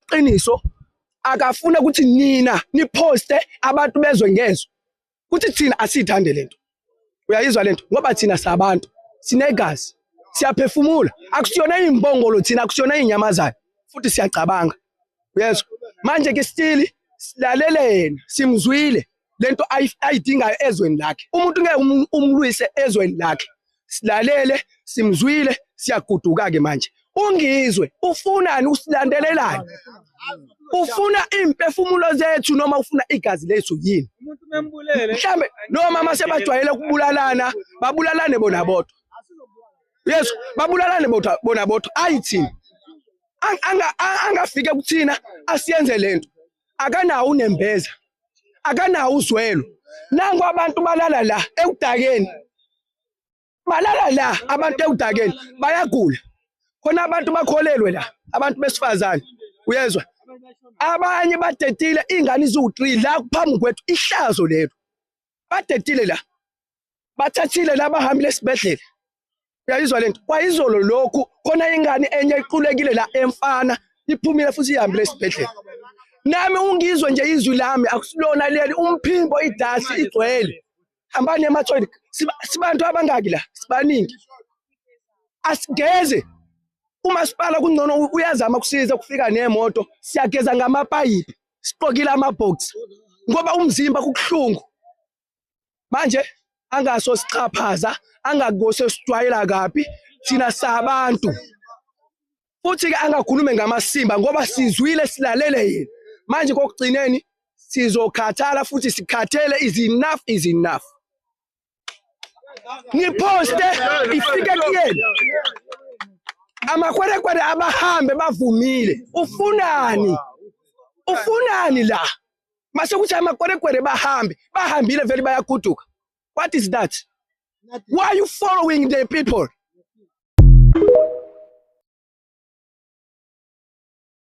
qiniso akafuna ukuthi nina niphoste abantu bezwe ngezwe ukuthi thina asiyithande lento uyayizwa lento ngoba thina sabantu sinegazi siyaphefumula akusiyona imbongolo thina akusiyona inyamazana futhi siyacabanga uyezwa manje ke still silalelena simzwile lento ayidingayo ezweni lakhe umuntu ngeke um-, umlwise ezweni lakhe silalele simzwile siyaguduka ke manje ungizwe ufunani usilandelelani ufuna impefumulo zethu noma ufuna igazi lethu yini mhlambe noma uma sebajwayele ukubulalana babulalane bona bodwa yes babulalane bodwa bona bodwa ayithini angafike kuthina asiyenze lento akanawo unembeza akanawo uzwelo nangu abantu balala la ekudakeni balala la abantu ekudakeni bayagula khona abantu bakholelwe la abantu besifazane uyezwa abanye badedile ingane iziwu-3 la kuphambi kwethu ihlazo lelo badedile la bathathile laba hambile esibhedlela uyayizwa lento kwayizolo lokhu khona ingane enye iqulekile la emfana iphumile futhi ihambile esibhedlela nami ungizwe nje izwi lami akusilona leli umphimbo idasi igcwele hambani emathoyini sibantu abangaki la sibaningi asigeze umasipala kungcono uyazama kusiza kufika nemoto siyageza ngamapayipi siqokile amabhoksi ngoba umzimba kukuhlungu manje angaso siqaphaza angakose sijwayela kabi thina sabantu futhi ke angakhulume ngamasimba ngoba sizwile silalele yena manje kokugcineni sizokhathala futhi sikhathele is enough is enough ngiposte ifike kuyena amakwerekwere abahambe bavumile ufunani ufunani la mase kuthi amakwerekwere bahambe bahambile vele bayaguduka what is that why are you following the people